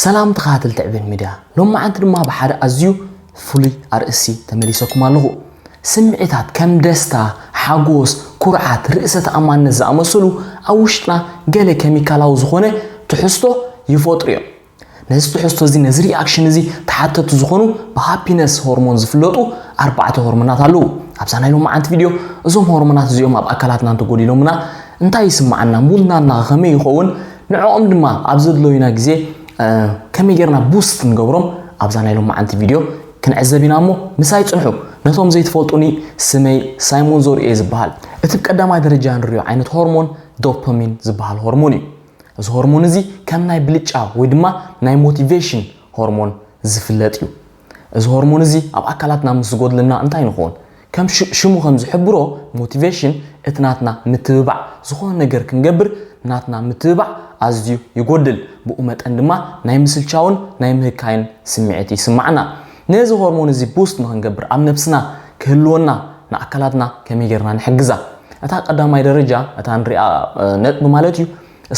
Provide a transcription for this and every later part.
ሰላም ተኸታተልቲ ዕቤን ሚድያ ሎማዓንቲ ድማ ብሓደ ኣዝዩ ፍሉይ ኣርእስቲ ተመሊሰኩም ኣለኹ። ስምዒታት ከም ደስታ፣ ሓጎስ፣ ኩርዓት፣ ርእሰ ተኣማንነት ዝኣመሰሉ ኣብ ውሽጥና ገለ ኬሚካላዊ ዝኾነ ትሕዝቶ ይፈጥሩ እዮም። ነዚ ትሕዝቶ እዚ ነዚ ሪኣክሽን እዚ ተሓተቲ ዝኾኑ ብሃፒነስ ሆርሞን ዝፍለጡ ኣርባዕተ ሆርሞናት ኣለዉ። ኣብዛ ናይ ሎማዓንቲ ቪድዮ እዞም ሆርሞናት እዚኦም ኣብ ኣካላትና እንተጎዲሎምና እንታይ ይስማዓና፣ ሙድና እና ከመይ ይኸውን፣ ንዕኦም ድማ ኣብ ዘድለዩና ግዜ ከመይ ጌርና ቡስት ንገብሮም ኣብዛ ናይ ሎማዓንቲ ቪድዮ ክንዕዘብ ኢና እሞ ምሳይ ጽንሑ። ነቶም ዘይትፈልጡኒ ስመይ ሳይሞን ዘርኡ እየ ዝብሃል። እቲ ብቀዳማይ ደረጃ ንሪኦ ዓይነት ሆርሞን ዶፐሚን ዝብሃል ሆርሞን እዩ። እዚ ሆርሞን እዚ ከም ናይ ብልጫ ወይ ድማ ናይ ሞቲቬሽን ሆርሞን ዝፍለጥ እዩ። እዚ ሆርሞን እዚ ኣብ ኣካላትና ምስ ዝጎድለና እንታይ ንኾን? ከም ሽሙ ከም ዝሕብሮ ሞቲቬሽን እቲ ናትና ምትብባዕ ዝኾነ ነገር ክንገብር ናትና ምትብባዕ ኣዝዩ ይጎድል ብኡ መጠን ድማ ናይ ምስልቻውን ናይ ምህካይን ስምዒት ይስማዓና ነዚ ሆርሞን እዚ ቡስት ንክንገብር ኣብ ነብስና ክህልወና ንኣካላትና ከመይ ጌርና ንሕግዛ እታ ቀዳማይ ደረጃ እታ ንሪኣ ነጥቢ ማለት እዩ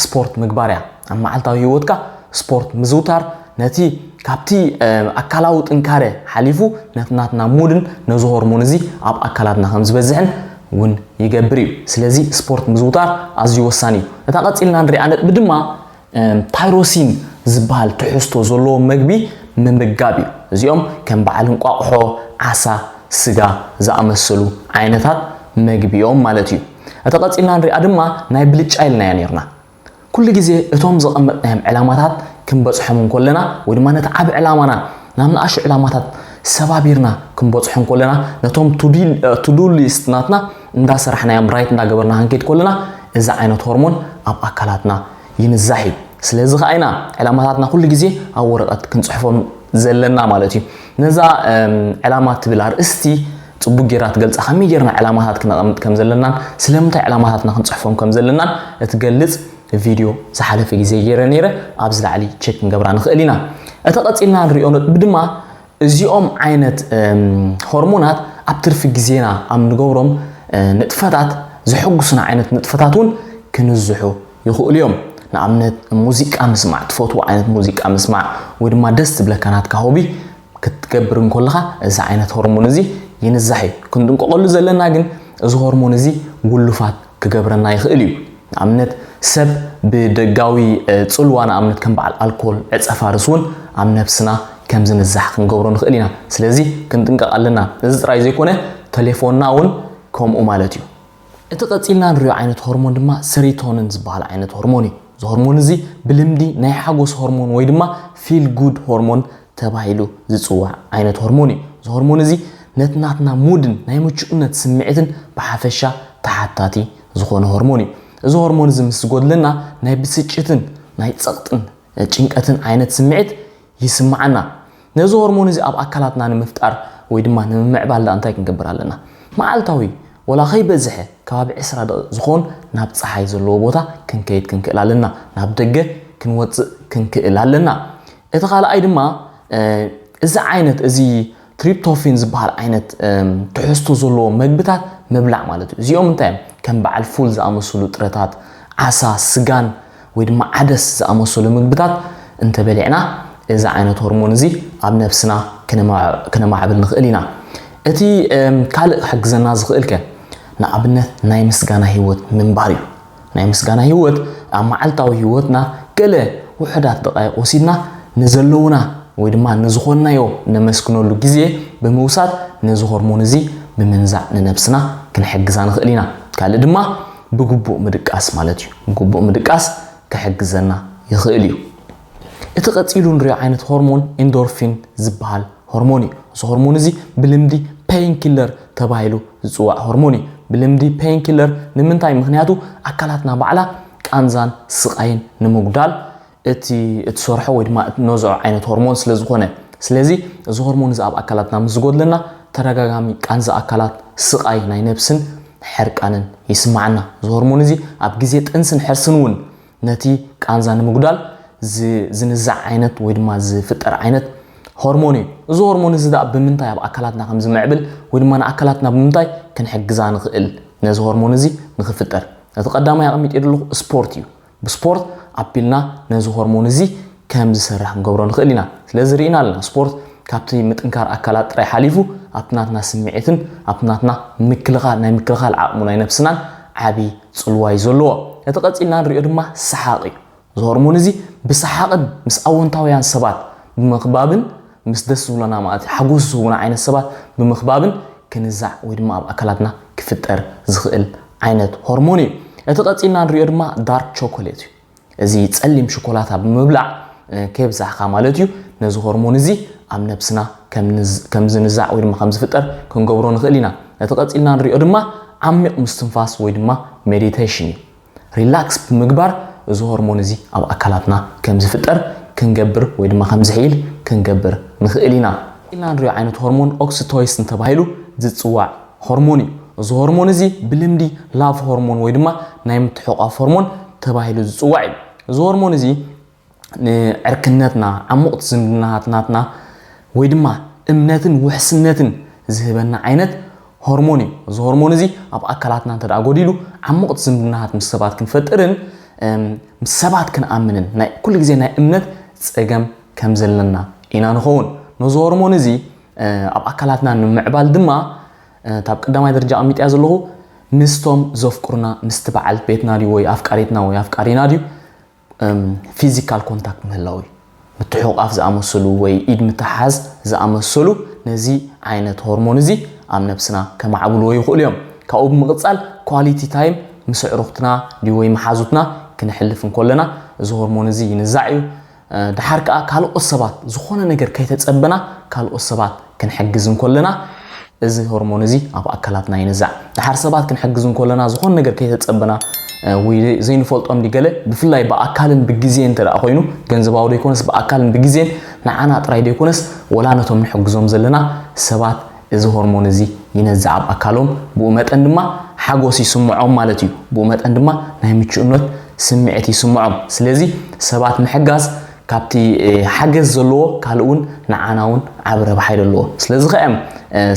ስፖርት ምግባር እያ። ኣብ መዓልታዊ ህይወትካ ስፖርት ምዝውታር ነቲ ካብቲ ኣካላዊ ጥንካረ ሓሊፉ ነቲ ናትና ሙድን ነዚ ሆርሞን እዚ ኣብ ኣካላትና ከም ዝበዝሕን እውን ይገብር እዩ። ስለዚ ስፖርት ምዝውታር ኣዝዩ ወሳኒ እዩ። እታ ቀጺልና ንሪኣ ነጥቢ ድማ ታይሮሲን ዝበሃል ትሕዝቶ ዘለዎ መግቢ ምምጋብ እዩ። እዚኦም ከም በዓል እንቋቑሖ፣ ዓሳ፣ ስጋ ዝኣመሰሉ ዓይነታት መግቢ እዮም ማለት እዩ። እታ ቀጺልና ንሪኣ ድማ ናይ ብልጫ ኢልናያ ኔርና። ኩሉ ግዜ እቶም ዘቐመጥናዮም ዕላማታት ክንበጽሖም እንኮለና ወይ ድማ ነቲ ዓቢ ዕላማና ናብ ንኣሽቱ ዕላማታት ሰባቢርና ክንበጽሖ እንኮለና ነቶም to do list ናትና እንዳሰራሕናዮም ራይት እንዳገበርና ክንከይድ ከለና እዚ ዓይነት ሆርሞን ኣብ ኣካላትና ይንዛሕ እዩ። ስለዚ ከኣ ኢና ዕላማታትና ኩሉ ግዜ ኣብ ወረቐት ክንጽሕፎም ዘለና ማለት እዩ። ነዛ ዕላማ እትብል ኣርእስቲ ጽቡቕ ጌርና ትገልጻ፣ ከመይ ጌርና ዕላማታት ክነቐምጥ ከም ዘለናን ስለምንታይ ዕላማታትና ክንጽሕፎም ከም ዘለናን እትገልጽ ቪድዮ ዝሓለፈ ግዜ ጌረ ኔረ፣ ኣብዚ ላዕሊ ቸክ ክንገብራ ንኽእል ኢና። እቲ ቀጺልና ንርእዮ ነጥቢ ድማ እዚኦም ዓይነት ሆርሞናት ኣብ ትርፊ ግዜና ኣብ ንገብሮም ንጥፈታት ዘሐጉሱና ዓይነት ንጥፈታት እውን ክንዝሑ ይኽእሉ እዮም። ንኣብነት ሙዚቃ ምስማዕ፣ ትፈትዎ ዓይነት ሙዚቃ ምስማዕ ወይ ድማ ደስ ዝብለካ ናትካ ሆቢ ክትገብር እንኮለኻ እዚ ዓይነት ሆርሞን እዚ ይንዛሕ እዩ። ክንጥንቀቐሉ ዘለና ግን እዚ ሆርሞን እዚ ውሉፋት ክገብረና ይኽእል እዩ። ንኣብነት ሰብ ብደጋዊ ጽልዋ ንኣብነት ከም በዓል ኣልኮል፣ ዕጸ ፋርስ እውን ኣብ ነብስና ከም ዝንዛሕ ክንገብሮ ንኽእል ኢና። ስለዚ ክንጥንቀቕ ኣለና። እዚ ጥራይ ዘይኮነ ተሌፎንና እውን ከምኡ ማለት እዩ። እቲ ቀጺልና ንሪኦ ዓይነት ሆርሞን ድማ ሰሪቶንን ዝበሃል ዓይነት ሆርሞን እዩ። እዚ ሆርሞን እዚ ብልምዲ ናይ ሓጎስ ሆርሞን ወይ ድማ ፊል ጉድ ሆርሞን ተባሂሉ ዝጽዋዕ ዓይነት ሆርሞን እዩ። እዚ ሆርሞን እዚ ነቲ ናትና ሙድን ናይ ምቹእነት ስምዒትን ብሓፈሻ ተሓታቲ ዝኾነ ሆርሞን እዩ። እዚ ሆርሞን እዚ ምስ ዝጎድለና ናይ ብስጭትን ናይ ጸቕጥን ጭንቀትን ዓይነት ስምዒት ይስምዓና። ነዚ ሆርሞን እዚ ኣብ ኣካላትና ንምፍጣር ወይ ድማ ንምምዕባል ድኣ እንታይ ክንገብር ኣለና? መዓልታዊ ወላ ከይበዝሐ ከባቢ ዕስራ ደቒቕ ዝኾን ናብ ጸሓይ ዘለዎ ቦታ ክንከይድ ክንክእል ኣለና፣ ናብ ደገ ክንወጽእ ክንክእል ኣለና። እቲ ካልኣይ ድማ እዚ ዓይነት እዚ ትሪፕቶፊን ዝበሃል ዓይነት ትሕዝቶ ዘለዎ መግብታት ምብላዕ ማለት እዩ። እዚኦም እንታይ እዮም? ከም በዓል ፉል ዝኣመሰሉ ጥረታት፣ ዓሳ፣ ስጋን ወይ ድማ ዓደስ ዝኣመሰሉ ምግብታት እንተበሊዕና እዚ ዓይነት ሆርሞን እዚ ኣብ ነብስና ክነማዕብል ንኽእል ኢና። እቲ ካልእ ክሕግዘና ዝኽእል ከ ንኣብነት ናይ ምስጋና ህይወት ምንባር እዩ። ናይ ምስጋና ህይወት ኣብ መዓልታዊ ህይወትና ገለ ውሑዳት ደቓይቕ ወሲድና ንዘለዉና ወይ ድማ ንዝኾንናዮ ነመስግነሉ ግዜ ብምውሳድ ነዚ ሆርሞን እዚ ብምንዛዕ ንነብስና ክንሕግዛ ንኽእል ኢና። ካልእ ድማ ብግቡእ ምድቃስ ማለት እዩ። ብግቡእ ምድቃስ ክሕግዘና ይኽእል እዩ። እቲ ቀጺሉ ንሪኦ ዓይነት ሆርሞን ኢንዶርፊን ዝበሃል ሆርሞን እዩ። እዚ ሆርሞን እዚ ብልምዲ ፔይን ኪለር ተባሂሉ ዝጽዋዕ ሆርሞን እዩ። ብልምዲ ፔይን ኪለር ንምንታይ ምኽንያቱ ኣካላትና ባዕላ ቃንዛን ስቓይን ንምጉዳል እቲ እትሰርሖ ወይ ድማ እትነዝዖ ዓይነት ሆርሞን ስለ ዝኾነ። ስለዚ እዚ ሆርሞን እዚ ኣብ ኣካላትና ምስ ዝጎድለና ተደጋጋሚ ቃንዛ ኣካላት፣ ስቓይ ናይ ነብስን ሕርቃንን ይስማዓና። እዚ ሆርሞን እዚ ኣብ ግዜ ጥንስን ሕርስን እውን ነቲ ቃንዛ ንምጉዳል ዝንዛዕ ዓይነት ወይ ድማ ዝፍጠር ዓይነት ሆርሞን እዩ። እዚ ሆርሞን እዚ ደኣ ብምንታይ ኣብ ኣካላትና ከም ዝምዕብል ወይ ድማ ንኣካላትና ብምንታይ ክንሕግዛ ንኽእል ነዚ ሆርሞን እዚ ንኽፍጠር። እቲ ቀዳማይ ኣቐሚጠ ዘለኹ ስፖርት እዩ። ብስፖርት ኣቢልና ነዚ ሆርሞን እዚ ከም ዝሰርሕ ክንገብሮ ንኽእል ኢና። ስለዚ ርኢና ኣለና፣ ስፖርት ካብቲ ምጥንካር ኣካላት ጥራይ ሓሊፉ ኣብቲ ናትና ስምዒትን ኣብቲ ናትና ምክልኻል ናይ ምክልኻል ዓቕሙ ናይ ነብስናን ዓቢ ጽልዋ እዩ ዘለዎ። እቲ ቀጺልና ንርእዮ ድማ ሰሓቕ እዩ። እዚ ሆርሞን እዚ ብሰሓቕን ምስ ኣወንታውያን ሰባት ብምኽባብን ምስ ደስ ዝብሎና ማለት ሓጎስ ዝህቡና ዓይነት ሰባት ብምኽባብን ክንዛዕ ወይ ድማ ኣብ ኣካላትና ክፍጠር ዝኽእል ዓይነት ሆርሞን እዩ። እቲ ቀጺልና ንርእዮ ድማ ዳርክ ቾኮሌት እዩ። እዚ ጸሊም ሽኮላታ ብምብላዕ ከየብዛሕካ ማለት እዩ ነዚ ሆርሞን እዚ ኣብ ነብስና ከም ዝንዛዕ ወይ ድማ ከም ዝፍጠር ክንገብሮ ንኽእል ኢና ነቲ ቀጺልና ንሪኦ ድማ ዓሚቕ ምስትንፋስ ወይ ድማ ሜዲቴሽን እዩ ሪላክስ ብምግባር እዚ ሆርሞን እዚ ኣብ ኣካላትና ከም ዝፍጠር ክንገብር ወይ ድማ ከም ዝሕይል ክንገብር ንኽእል ኢና ኢልና ንሪኦ ዓይነት ሆርሞን ኦክሲቶይስን ተባሂሉ ዝፅዋዕ ሆርሞን እዩ። እዚ ሆርሞን እዚ ብልምዲ ላቭ ሆርሞን ወይ ድማ ናይ ምትሕቋፍ ሆርሞን ተባሂሉ ዝጽዋዕ እዩ። እዚ ሆርሞን እዚ ንዕርክነትና፣ ዓሙቕት ዝምድናታት ናትና ወይ ድማ እምነትን ውሕስነትን ዝህበና ዓይነት ሆርሞን እዩ። እዚ ሆርሞን እዚ ኣብ ኣካላትና እንተደኣ ጎዲሉ ዓሙቕት ዝምድናታት ምስ ሰባት ክንፈጥርን ምስ ሰባት ክንኣምንን ናይ ኩሉ ግዜ ናይ እምነት ጸገም ከም ዘለና ኢና ንኸውን። ነዚ ሆርሞን እዚ ኣብ ኣካላትና ንምምዕባል ድማ እታ ኣብ ቀዳማይ ደረጃ ኣቐሚጠያ ዘለኹ ምስቶም ዘፍቅሩና ምስቲ በዓል ቤትና ድዩ ወይ ኣፍቃሪትና ወይ ኣፍቃሪና ድዩ ፊዚካል ኮንታክት ምህላው እዩ ምትሕቑቓፍ ዝኣመሰሉ ወይ ኢድ ምትሓዝ ዝኣመሰሉ ነዚ ዓይነት ሆርሞን እዚ ኣብ ነብስና ከማዕብልዎ ይኽእሉ እዮም ካብኡ ብምቕፃል ኳሊቲ ታይም ምስ ኣዕሩኽትና ድዩ ወይ መሓዙትና ክነሕልፍ እንከለና እዚ ሆርሞን እዚ ይንዛዕ እዩ ደሓር ከኣ ካልኦት ሰባት ዝኾነ ነገር ከይተጸበና ካልኦት ሰባት ክንሕግዝ እንኮለና እዚ ሆርሞን እዚ ኣብ ኣካላትና ይንዛዕ። ደሓር ሰባት ክንሕግዝ እንኮለና ዝኾነ ነገር ከይተጸበና ወይ ዘይንፈልጦ እንዲ ገለ ብፍላይ ብኣካልን ብግዜን እንተ ደኣ ኮይኑ ገንዘባዊ ዘይኮነስ ብኣካልን ብግዜን ንዓና ጥራይ ዘይኮነስ ወላ ነቶም ንሕግዞም ዘለና ሰባት እዚ ሆርሞን እዚ ይነዝዕ ኣብ ኣካሎም፣ ብኡ መጠን ድማ ሓጎስ ይስምዖም ማለት እዩ። ብኡ መጠን ድማ ናይ ምቹእነት ስምዒት ይስምዖም። ስለዚ ሰባት ምሕጋዝ ካብቲ ሓገዝ ዘለዎ ካልእ እውን ንዓና እውን ዓቢ ረብሓ ይደለዎ። ስለዚ ከ እዮም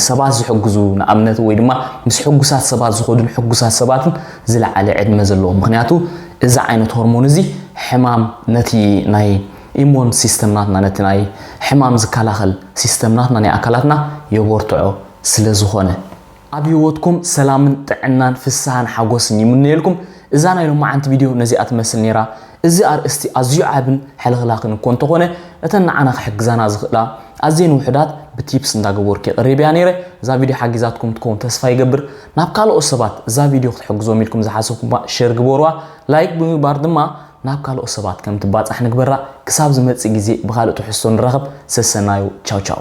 ሰባት ዝሕግዙ ንኣብነት ወይ ድማ ምስ ሕጉሳት ሰባት ዝኸዱን ሕጉሳት ሰባትን ዝለዓለ ዕድመ ዘለዎም። ምክንያቱ እዚ ዓይነት ሆርሞን እዚ ሕማም ነቲ ናይ ኢሞን ሲስተም ናትና ነቲ ናይ ሕማም ዝካላኸል ሲስተም ናትና ናይ ኣካላትና የቦርትዖ ስለ ዝኾነ። ኣብ ሂወትኩም ሰላምን ጥዕናን ፍስሃን ሓጎስን ይምነየልኩም እዛ ናይ ሎማዓንቲ ቪድዮ ነዚኣ ትመስል ኔራ እዚ ኣርእስቲ ኣዝዩ ዓብን ሕልኽላኽን እኮ እንተኾነ እተን ንዓና ክሕግዛና ዝኽእላ ኣዝየን ውሑዳት ብቲፕስ እንዳገበርኩ የቅሪበያ ኔረ እዛ ቪድዮ ሓጊዛትኩም ትከውን ተስፋ ይገብር ናብ ካልኦት ሰባት እዛ ቪድዮ ክትሕግዞም ኢልኩም ዝሓሰብኩምባ ሸር ግበሩዋ ላይክ ብምግባር ድማ ናብ ካልኦት ሰባት ከም ትባጻሕ ንግበራ ክሳብ ዝመጽእ ግዜ ብካልእ ትሕዝቶ ንራኸብ ሰሰናዩ ቻው ቻው።